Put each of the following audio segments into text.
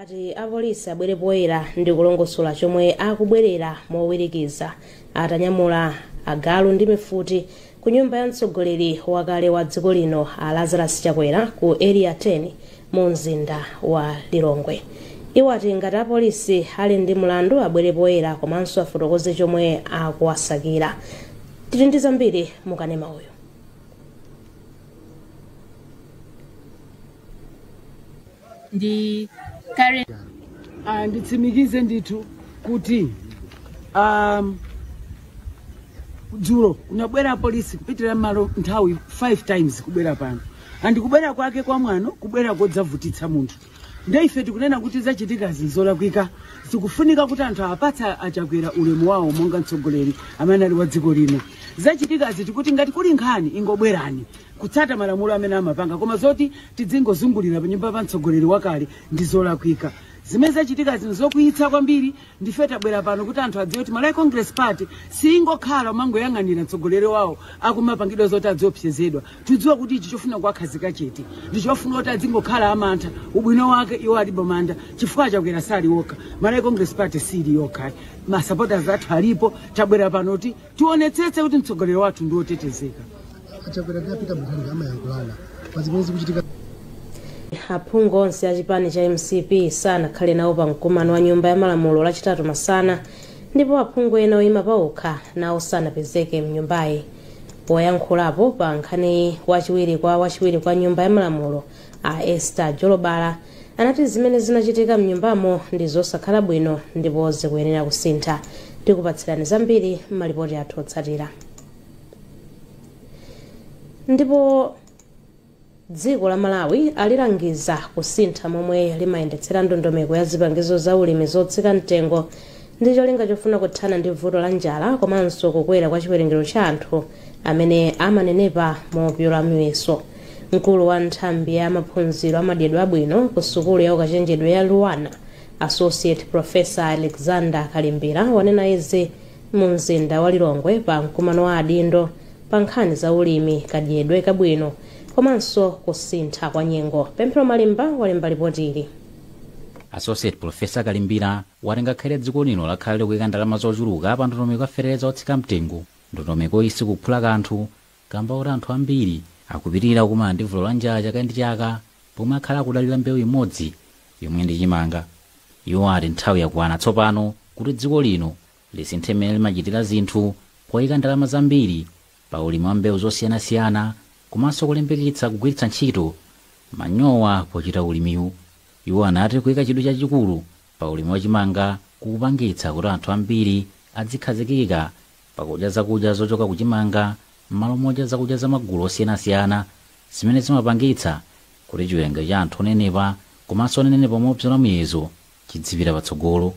ati apolisi abwere poyera ndi kulongosola chomwe akubwerera mowirikiza atanyamula agalu ndi mifuti ku nyumba ya mtsogoleri wakale wa dziko lino a lazarus chakwera ku area 10 mu mzinda wa lilongwe iwo ati ngati apolisi ali ndi mlandu abwere poyera komanso afotokoze chomwe akuwasakira tili ndi zambiri mukanema uyu ndi current Ah, nditsimikize ndithu kuti um, dzulo kunabwera polisi kupitira malo nthawi 5 times kubwera pano andi kubwera kwake kwa mwano kubwera kodzavutitsa munthu nde ife tikunena kuti zachitikazi zolakwika tikufunika kuti anthu awapatse achakwera ulemu wawo monga mtsogoleri amene anali wa dziko lino zachitikazi tikuti ngati kuli nkhani ingobwerani kutsata malamulo amene amapanga koma zoti tidzingozungulira panyumba pa mtsogoleri wakale ndi zolakwika zimene zachitikazi nzokwiyitsa kwambiri ndife tabwera pano kuti anthu adziwe kuti malawi congress party siyingokhala kumangoyang'anira mtsogoleri wawo akumapangidwa zoti adziopsezedwa tikudziwa kuti ichi chofuna kuwakhazika chete ndi chofuna kuti adzingokhala amantha ubwino wake iwo alibe mantha chifukwa chakwera sali okha malawi congress party sili yokha masupporters athu alipo tabwera pano kuti Tionetsetse kuti mtsogoleri wathu ndi wotetezeka. A Chakwera ndi a Peter Mutharika amayankhulana pa zimene zikuchitika. Aphungu onse a chipani cha mcp sanakhale nawo pa mkumano wa nyumba ya malamulo lachitatu masana ndipo aphungu ena oyima paokha nawo sanapezeke mnyumbayi poyankhulapo pa nkhaniyi wachiwiri kwa wachiwiri kwa nyumba ya malamulo a esther jolobala Anati, Zimene zinachitika m'nyumbamo ndi zosakhala bwino ndipo zikuyenera kusintha. Tikupatsirani zambiri m'malipoti athu otsatira. Ndipo dziko la Malawi alilangiza kusintha momwe limayendetsera ndondomeko ya zipangizo za ulimi zotsika mtengo ndi cholinga chofuna kuthana ndi vuto la njala komanso kukwera kwa chiwerengero cha anthu amene amanenepa mopyola muyeso. mkulu wa nthambi ya maphunziro amadyedwe abwino ku sukulu ya ukachenjede ya luanar associate professor alexander kalimbira wanena izi mu mzinda wa lilongwe pa mkumano wa adindo pa nkhani za ulimi kadyedwe kabwino komanso kusintha kwa nyengo pemphero malimba walemba lipoti ili associate professor kalimbira wati ngakhale dziko lino lakhala likuika ndalama zochuluka pa ndondomeko ya feteleza otsika mtengo ndondomeko iyi sikuphula kanthu kamba koti anthu ambiri akupitilira kukumana ndi vuto la njala chaka ndi chaka pomwe akhala akudalira mbewu imodzi yomwe ndi chimanga. Iwo ati nthawi yakwana tsopano kuti dziko lino lisinthe mmene limachitira zinthu poyika ndalama zambiri pa ulimi wa mbewu zosiyanasiyana komanso kulimbikitsa kugwiritsa ntchito manyowa pochita ulimiwu. Iwo anati kuyika chidwi chachikulu pa ulimi wa chimanga kukupangitsa kuti anthu ambiri adzikhazikika Pakudya zakudya zochoka ku chimanga m'malo modya zakudya za magulu osiyanasiyana zimene zimapangitsa kuti chiwerengero cha anthu onenepa komanso onenepa mobzola muyezo chidzipita patsogolo.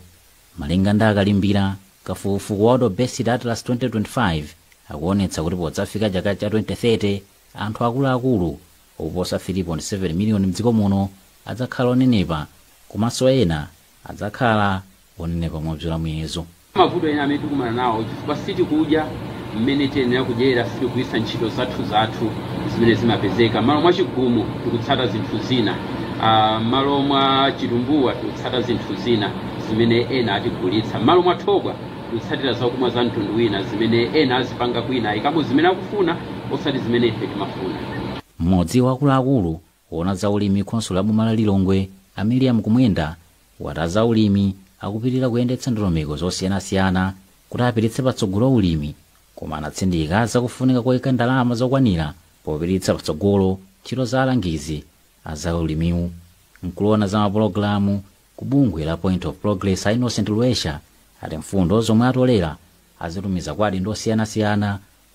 Malinga ndi a Kalimbira, kafukufuku wa World Obesity Atlas 2025 akuonetsa kuti podzafika chaka cha 2030 anthu akulu akulu oposa 3.7 miliyoni mdziko muno adzakhala onenepa komanso ena adzakhala onenepa mobzola muyezo. Mavuto ena amene tikumana nawo chifukwa sitikudya mmene tiyenera kudyera, sitikugwiritsa ntchito zathuzathu zimene zimapezeka. M'malo mwa chigumu tikutsata zinthu zina, ah, m'malo mwa chitumbuwa tikutsata zinthu zina zimene ena atigulitsa, m'malo mwa thobwa tikutsatira zakumwa za mtundu wina zimene ena azipanga kwina, ayikamo zimene akufuna osati zimene ife timafuna. Mmodzi wa akuluakulu Owona za ulimi khonsolo la boma la Lilongwe a Miriam Kumwenda wati azaulimi akupitilira kuyendetsa ndondomeko zosiyanasiyana kuti apititse patsogolo ulimi koma anatsindika za kufunika koika ndalama zokwanira popititsa patsogolo ntchito za alangizi a za ulimiwu. Mkulu owona za mapologalamu ku bungwe la Point of Progress a Innocent Lwesha ati mfundo zomwe atolera azitumiza kwa adindo osiyanasiyana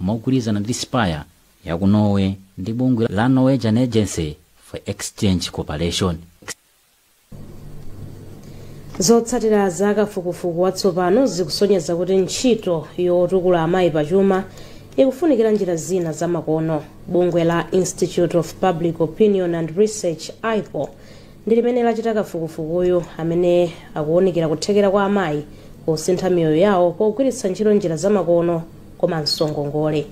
mogwirizana ndi Spire ya ku Norway ndi bungwe la Norwegian Agency for Exchange Cooperation. Zotsatira za kafukufuku watsopano zikusonyeza kuti ntchito yotukula amayi pachuma ikufunikira njira zina zamakono. Bungwe la Institute of Public Opinion and Research IPOR ndi limene lachita kafukufukuyu amene akuwunikira kuthekera kwa amayi kusintha miyoyo yawo pogwiritsa ntchito njira zamakono komanso ngongole.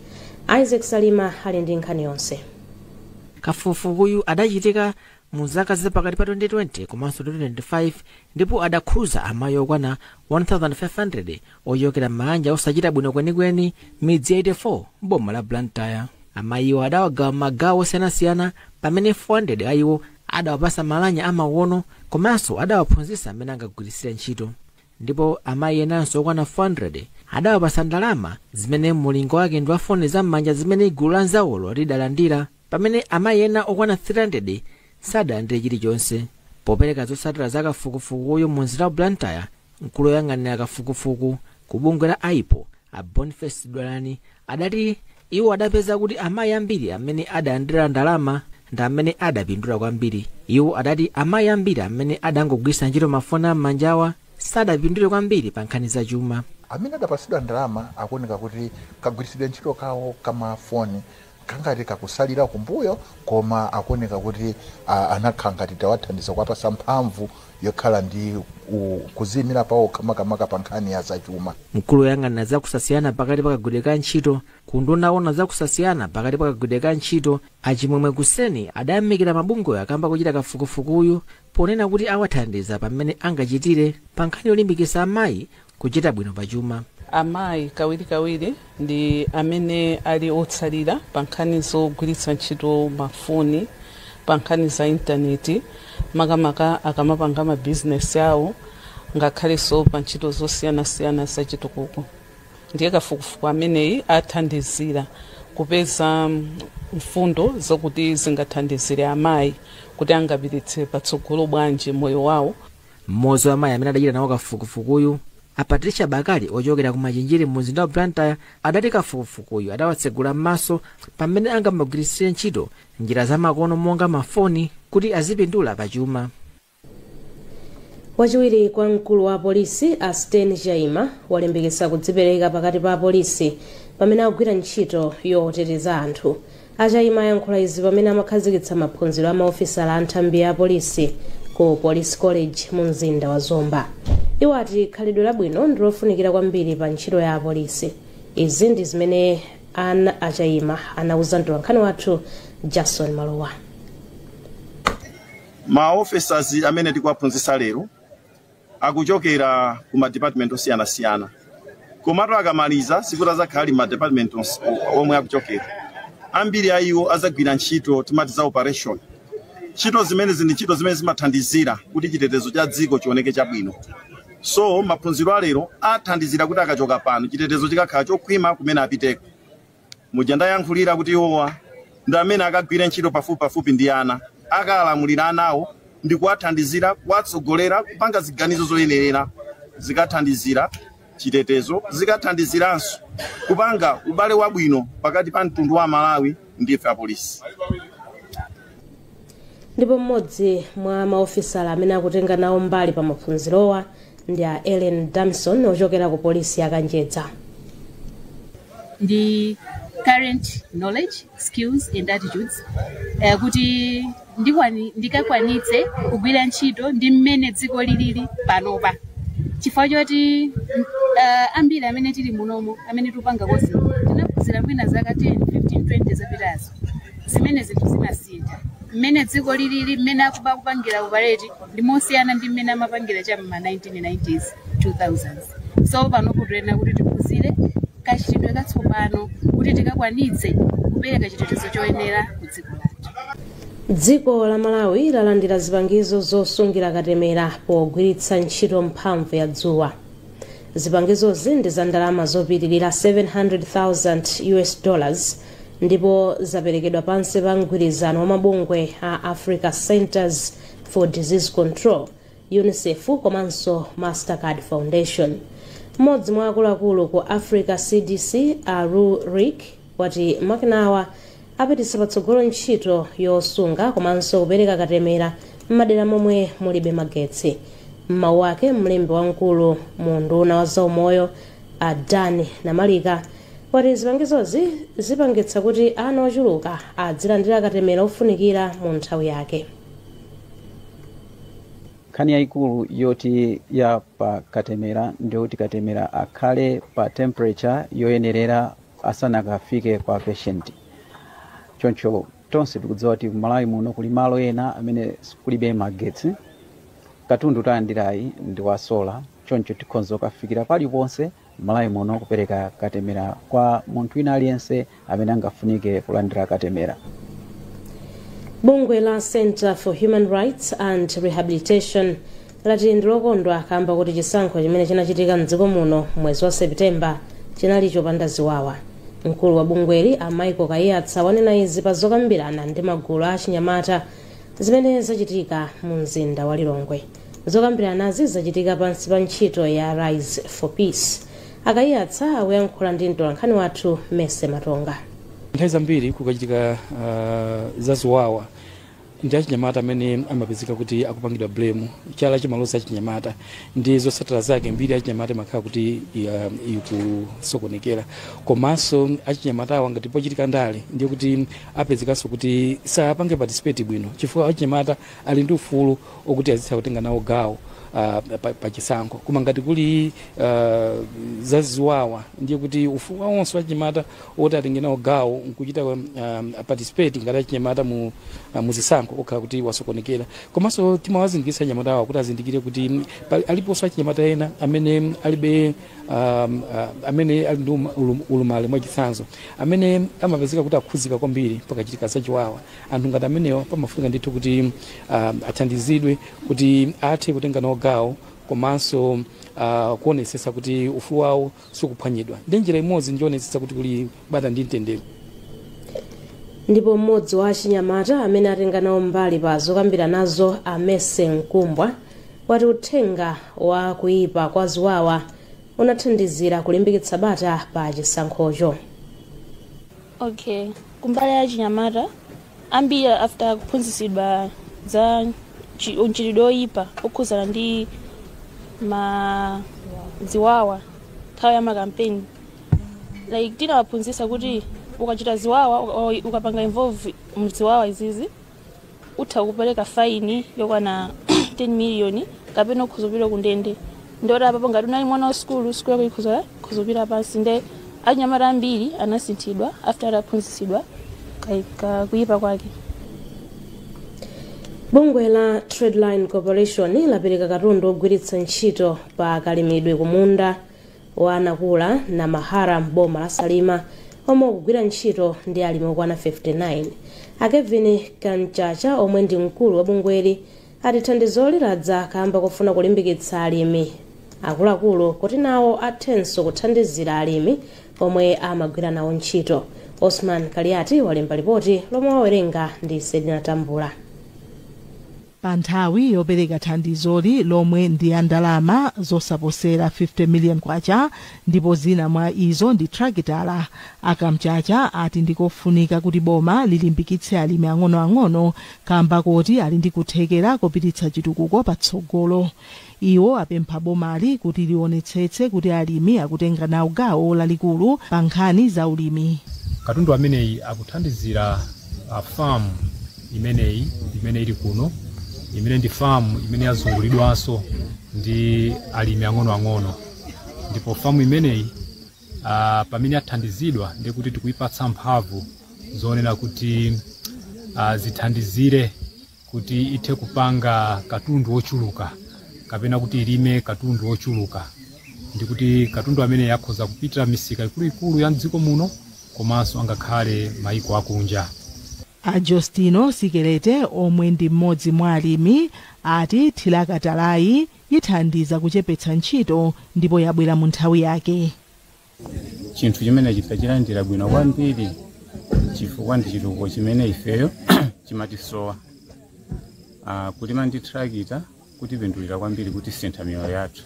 Isaac Salima ali ndi nkhani yonse. Kafukufukuyu adachitika mu zaka za pakati pa 2020 komanso 2025 ndipo adakhuza amayi okwana 1,500 ochokera m'maanja osachita bwino kwenikweni midzi 84 m'boma la Blantyre. Amayiwo adawagawa m'magawo osiyanasiyana pamene 400 a iwo adawapasa malamya amakono komanso adawaphunzitsa mmene angagwiritsire ntchito. ndipo amayi enanso okwana 400 adawapatsa ndalama zimene mulingo wake ndi wa foni za m'manja zimene gulu la nzawolo lidalandira pamene amayi ena okwana 300 sadalandire chilichonse popereka zotsatira za kafukufukuyu mu mzinda wa blantyre mkulu woyang'anira kafukufuku ku bungwe la ipor a boniface dulani adati Iwo adapeza kuti amayi ambiri amene adalandira ndalama ndi amene adapindula kwambiri. Iwo adati amayi ambiri amene adangogwiritsa ntchito mafoni a m'manjawa sadapindule kwambiri pa nkhani za chuma. Amene adapatsidwa ndalama akuoneka kuti kagwiritsidwe ntchito kawo ka mafoni kakhala ngati kakusalira kumbuyo koma akuoneka kuti anakhala ngati tawathandiza kuwapatsa mphamvu yokhala ndi u, kuziyimira pawokha makamaka pa nkhani ya zachuma mkulu woyang'anira za kusasiyana pakati pa kagwiridwe ka ntchito ku unduna woona za kusasiyana pakati pa kagwidwe ka ntchito a chimwemwe kuseni adayamikira mabungwewa kamba kochita kafukufukuyu ponena kuti awathandiza pamene angachitire pa nkhani yolimbikitsa amayi Kuchita bwino pa chuma. Amayi kawirikawiri ndi amene ali otsalira pa nkhani zogwiritsa ntchito mafoni, pa nkhani za intaneti, makamaka akamapanga mabizinesi awo ngakhalenso pa ntchito zosiyanasiyana zachitukuko. Ndiye kafukufuku ameneyi athandizira kupeza mfundo zokuti zingathandizire amayi kuti angapititse patsogolo bwanji moyo wawo. mmodzi wa amayi amene adachita nawo kafukufukuyu a patricia bakali ochokera ku machinjiri mu mzinda wa blantyre adati kafukufukuyu adawatsegula m'maso pamene angamagwiritsire ntchito njira zamakono monga mafoni kuti azipindula pachuma wachiwiri kwa mkulu wa apolisi a stain chaima walimbikitsa kudzipereka pakati pa apolisi pamene akugwira ntchito yoteteza anthu A Chaima ayankhula izi pamene amakhazikitsa maphunziro a maofisala a nthambi ya apolisi ku Police College mu mzinda wa Zomba. Iwo ati khalidwe labwino ndi lofunikira kwambiri pa ntchito ya apolisi. Izi ndi zimene ana a Chaima anauza mtolankhani wathu Jason Malowa. ma officers amene tikuwaphunzitsa lero akuchokera ku ma department osiyanasiyana komatu akamaliza sikuti azakhala ali m'ma department omwe akuchokera ambiri a iwo azagwira ntchito timati za operation ntchito zimenezi ndi ntchito zimene zimathandizira kuti chitetezo cha dziko chioneke chabwino so maphunziro alero athandizira kuti akachoka pano chitetezo chikakhala chokhwima kumene apiteko Muja ndayankhulira kuti iwowa ndi amene akagwire ntchito pafupipafupi ndi ana, akalamulira anawo ndi kuwathandizira, kuwatsogolera, kupanga ziganizo zoyenerera, zikathandizira chitetezo, zikathandiziranso kupanga ubale wabwino pakati pa mtundu wa Amalawi ndi ife apolisi. ndipo mmodzi mwa maofisala amene akutenga nawo mbali pa maphunzirowa ndi a ellen damson ochokera ku polisi ya kanjedza ndi current knowledge skills and attitudes eh, kuti ndikwani- ndikakwanitse kugwira ntchito ndi mmene dziko lilili panopa chifukwa choti uh, ambiri amene tili munomo amene tikupanga kosi tinaphunzira mwina zaka 10 15 20 zapitazo zimene zinthu zinasintha mmene dziko lilili mmene akuba akupangira upaleti ndi mosiyana ndi mmene amapangira cha mma 1990s 2000s so panopo tikuyenera kuti tiphunzire kachitidwe katsopano kuti tikakwanitse kupereka chitetezo choyenera ku dziko lathu dziko la malawi lalandira zipangizo zosungira katemera pogwiritsa ntchito mphamvu ya dzuwa zipangizozi ndi za ndalama zopitirira 700,000 us dollars ndipo zaperekedwa pansi pa mgwirizano wa mabungwe a africa centers for disease control unicef komanso mastercard foundation mmodzi mwa akuluakulu ku africa cdc a lul riek wati makinawa apititsa patsogolo ntchito yosunga komanso kupereka katemera m'madera momwe mulibe magetsi m'mawu ake mlembi wamkulu mu unduna wa zaumoyo a Dan Namarika wati zipangizozi zipangitsa kuti ana ochuluka adzilandira katemera ofunikira mu nthawi yake. nkhani yayikulu yoti ya pa katemera ndiyoti katemera akhale pa temperature yoyenerera asanakafike kwa patient choncho tonse tikudziwa kuti Malawi muno kuli malo ena amene kulibe magetsi katundu talandirayi ndi wasola choncho tikhonza kukafikira paliponse m'malawi muno kupereka katemera kwa munthu wina aliyense amene angafunike kulandira katemera bungwe la center for human rights and rehabilitation lati ndilokondwa kamba kuti chisankho chimene chinachitika mdziko muno mwezi wa septemba chinali chopanda ziwawa mkulu wa bungweli a michael kaiyatsa wanena izi pa zokambirana ndi magulu a achinyamata zimene zachitika mu mzinda wa lilongwe zokambiranazi zachitika pansi pa ntchito ya rise for peace a kaiyatsa akuyankhula ndi mtolankhani wathu mercy matonga nthawi zambiri kukachitika uh, zaziwawa ndi achinyamata amene amapezeka kuti akupangidwa blame chala chimaloza achinyamata ndi zotsatira zake mbiri ya achinyamata imakhala kuti ya- ikusokonekera komanso achinyamata awa ngati pochitika ndale ndiye kuti apezekanso kuti sapange participate bwino chifukwa achinyamata ali ndi ufulu okuti azitha kutenga nawo gawo uh, pa, pa chisankho koma ngati kuli uh, zaziwawa ndiye kuti ufulu wawo onse wachinyamata oti atenge nawo gawo nkuchita um, participate ngati achinyamata mu, uh, mu zisankho okhala kuti wasokonekera komanso timawazindikiritsa achinyamata awa kuti azindikire kuti mm, pali- aliponso achinyamata ena amene alibe um, uh, amene ali ndi uma- ulum- ulumali mwachitsanzo amene amapezeka kuti akhudzika kwambiri pakachitika zachiwawa Anthu ngati amenewa pamafunika ndithu kuti uh, athandizidwe kuti athe kutenga nawo gawo komanso uh, kuonetsetsa kuti ufulu wawo sukuphwanyidwa ndi njira imodzi nkuonetsetsa kuti kuli bata ndi mtendere ndipo mmodzi wa achinyamata amene atenga nawo mbali pa zokambiranazo amese mkumbwa wati uthenga wa kuyipa kwa ziwawa unathandizira kulimbikitsa bata pa chisankhocho okay kumbali ya achinyamata ambiri after kuphunzitsidwa za chi- mchitidwe oyipa okhudzana ndi ma ziwawa nthawi ya makampeni like tinawaphunzitsa kuti ukachita ziwawa uka- ukapanga involve mziwawa izizi utha kupereka faini yokwana 10 miliyoni kapena ukhoza kupita kundende ndiye kuti apapo ngati unali mwana wa sukulu sukulu yako ikhoza ikhoza kupita pansi nde anyamata ambiri anasinthidwa after ataphunzitsidwa ka- ka- kuyipa kwake bungwe la Tradeline Corporation lapereka katundu ogwiritsa ntchito pa kalimidwe kumunda wa Nakula na Mahara m'boma la Salima omwe ukugwira ntchito ndi alimi okwana 59. A Kevin Kamchacha omwe ndi mkulu wa bungweli ati thandizoli ladza kamba kofuna kulimbikitsa alimi akuluakulu kuti nawo athenso kuthandizira alimi omwe amagwira nawo ntchito. Osman Kaliati walemba lipoti lomwe wawerenga ndi Selina Tambula. Pa nthawi yopereka thandizoli lomwe ndi la ndalama zosaposera K50 million ndipo zina mwa izo ndi trakitala, a Kamchacha ati ndi kofunika kuti boma lilimbikitse alimi ang'onoang'ono kamba koti ali ndi kuthekera kopititsa chitukuko patsogolo. Iwo apempha bomali kuti lionetsetse kuti alimi akutenga nawo gawo lalikulu pa nkhani za ulimi. Katundu ameneyi akuthandizira ah, farm imeneyi imene ili kuno imene ndi farm imene yazungulidwanso ndi alimi ang'onoang'ono ndipo farm imeneyi ah, pamene yathandizidwa ndiye kuti tikuipatsa mphamvu zonena kuti ah, zithandizire kuti ithe kupanga katundu wochuluka kapena kuti ilime katundu wochuluka ndi kuti katundu ameneyo akhoza kupitira misika ikuluikulu ya mdziko muno komanso angakhale maiko akunja a Justino Sikelete omwe ndi mmodzi mwa alimi ati thirakatalayi ithandiza kuchepetsa ntchito ndipo yabwera mu nthawi yake. chinthu chimenechi tachilandira bwino kwambiri chifukwa ndi chitukuko chimene ifeyo chimatisowa Ah, kulima ndi trakita kutipindulira kwambiri kutisintha miyoyo yathu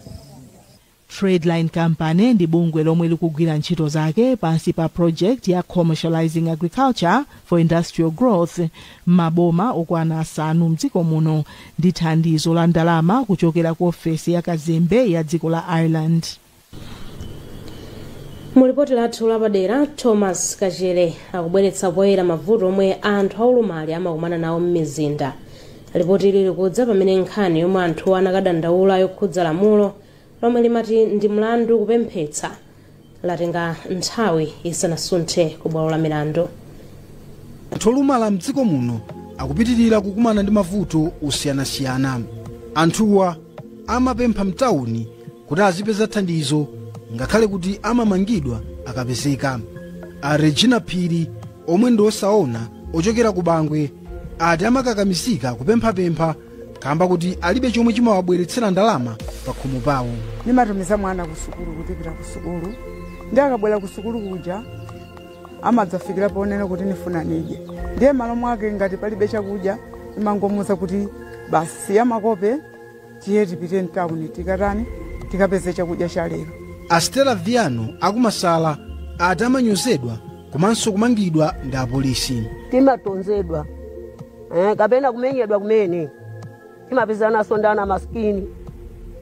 Tradeline Company ndi bungwe lomwe likugwira ntchito zake pansi pa project ya Commercializing Agriculture for Industrial Growth m'maboma okwana asanu mdziko muno ndi thandizo la ndalama kuchokera ku ofesi ya kazembe ya dziko la Ireland. mu lipoti lathu lapadera thomas kachere akubweretsa poyera mavuto omwe anthu aulumali amakumana nawo m'mizinda lipoti ili likudza pamene nkhani yomwe anthuwa anakadandaula yokhudza lamulo lomwe limati ndi mlandu kupemphetsa yatenga nthawi isanasunthe ku bwalo la milandu anthu olumala mdziko muno akupitirira kukumana ndi mavuto osiyanasiyana anthuwa amapempha mtawuni kuti azipeza thandizo ngakhale kuti amamangidwa akapezeka a regina phiri omwe ndi osaona ochokera ku bangwe ati amakakamizika kupemphapempha kamba kuti alibe chomwe chimawabweretsera ndalama pa khomo pawo nimatumiza mwana kusukulu kuti pita kusukulu ndiye akabwera kusukulu kuja amadzafikira ponena kuti nifuna nidye ndiye malo mwake ngati palibe chakudya nimangomuuza kuti basi siya makope tiye tipite mtawuni tikatani tikapeze chakudya cha lero a stella viano a ku Masala ati amanyozedwa komanso kumangidwa ndi apolisi timatonzedwa eh, kapena kumenyedwa kumene timapezanaso ndi ana masikini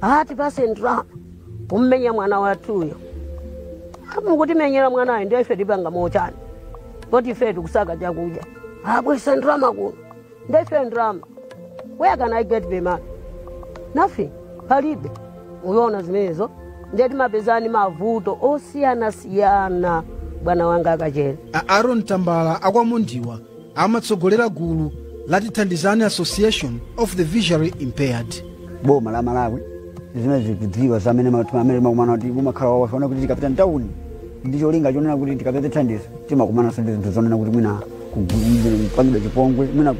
atipase ndalama kummenya mwana wathuyo mukutimenyera mwanayo ndiye ife tipanga motani poti ife tikusaka chakudya abweza ndalama kuno ndiye ife ndalama where can i get the money nothing palibe mukuona zimenezo ndiye timapezana ndi mavuto osiyanasiyana bwana wanga a Kachere a aaron tambala a kwa Mondiwa amatsogolera gulu la tithandizani association of the visually impaired boma la malawi zimene zikudziwa zamene timakumana kuti kumakhala wawaona kuti tikapita mtawuni ndi cholinga chonena kuti tikapeze thandizo timakumananso ndi zinthu zonena kuti mwina kupangidwa chipongwe mwina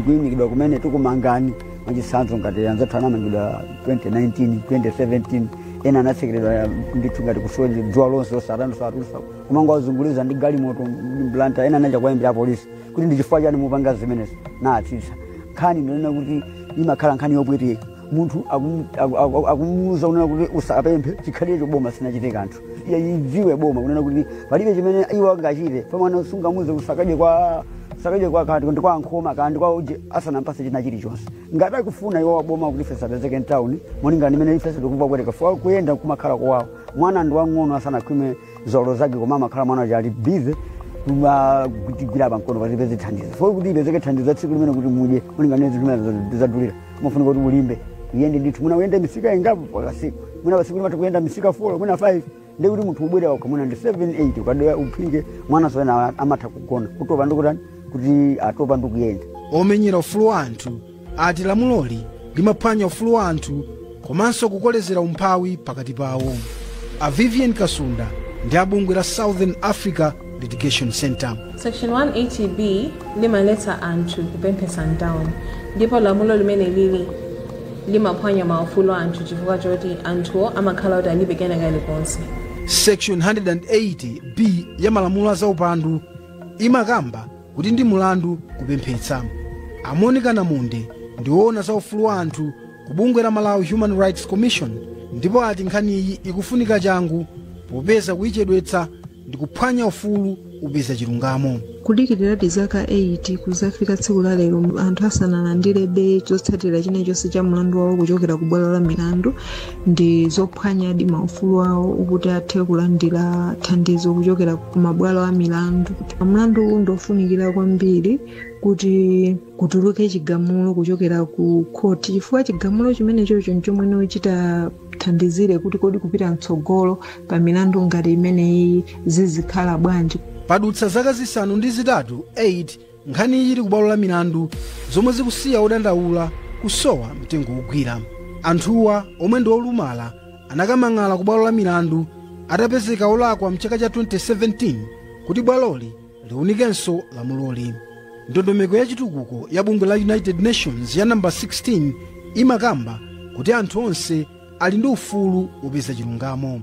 kuyimikidwa kumene tikumangani mwachitsanzo ngati anzathu anamangidwa 2019 2017 ena anatsekeredwa ndithu ngati ku selo dzuwa lonse osatani osatulutsa kumangowazunguliza ndi galimoto m'Blantyre ena anachita kuwayimbira apolisi kuti ndi chifukwa chani mupanga zimenezi nawatsitsa nkhani ndi yonena kuti imakhala nkhani yopweteka munthu akumuuza kunena kuti usapemphe chikhalirecho boma sinachite kanthu iye adziwe boma kunena kuti palibe chimene iwo angachite pamwana sungamuuze usakadye kwa sakadye kwa akuti ndi kwa ankhoma kadye kwa uje usanampatse china chilichonse ngati akufuna iwo waboma kuti ife tisapezeke mtawuni molingana ndi mmene ife tikumva kupweteka chifukwa kuyenda kumakhala kowawa mwana ndi wang'ono asanakhwime nzeru zake koma amakhala mwana uja ali bize kutigwira pamkono kuti tipeze thandizo foo kuti tipezeke thandizo la tsiku limenelo kuti mudye molingana ndi mmene zinthu mmene zadulira umafunika kuti ulimbe uyende ndithu mwina uyende misika ingapo pakatsiku mwina patsiku umatha kuyenda misika 4 mwina 5 nde kuti munthu ubwera pakhomo mwina ndi 7 8 ukatero uphike anaso ena amatha kugona kutopa ndikutani kuti atopa ndikuyenda omenyera ufulu wa anthu ati lamuloli limaphwanya ufulu wa anthu komanso kukolezera umphawi pakati pawo a vivian kasunda ndi a bungwe la southern africa Litigation Center. Section 180B limaletsa anthu kupemphetsa mtawuni ndipo lamulo limene lili limaphwanya maufulu a anthu chifukwa choti anthuwo amakhala kuti alibe kena kalikonse Section 180B ya malamulo a zaupandu imakamba kuti ndi mulandu kupemphetsa. A Monica Namunde ndi woona za ufulu wa anthu ku bungwe la Malawi Human Rights Commission ndipo ati nkhaniyi ikufunika changu popeza kuyichedwetsa ndikuphwanya ufulu wopeza chilungamo kudikiliradi zaka 8 kudzafika tsiku la lero anthu asanalandirebe chotsatira china chilichonse cha mlandu wawo kuchokera ku bwalo la milandu ndi zophwanyadi maufulu awo oti athe kulandira thandizo kuchokera ku mabwalo a milandu mlandu uwu ndiofunikira kwambiri kuti kutuluke chigamulo kuchokera ku khoti chifukwa chigamulo chimenechocho nchomwe chitathandizire kuti kodi kupita mtsogolo pa milandu ngati imeneyi zizikhala bwanji padutsa zaka zisanu ndi zitatu nkhaniyi ili kubwalo la milandu zomwe zikusiya odandaula kusowa mtengo wogwira anthuwa omwe ndi olumala anakamang'ala kubwalo la milandu atapezeka olakwa mchaka cha 2017 kuti bwaloli liunikenso lamuloli ndondomeko ya chitukuko ya bungwe la united nations ya namba 16 imakamba kuti anthu onse ali ndi ufulu wopeza chilungamo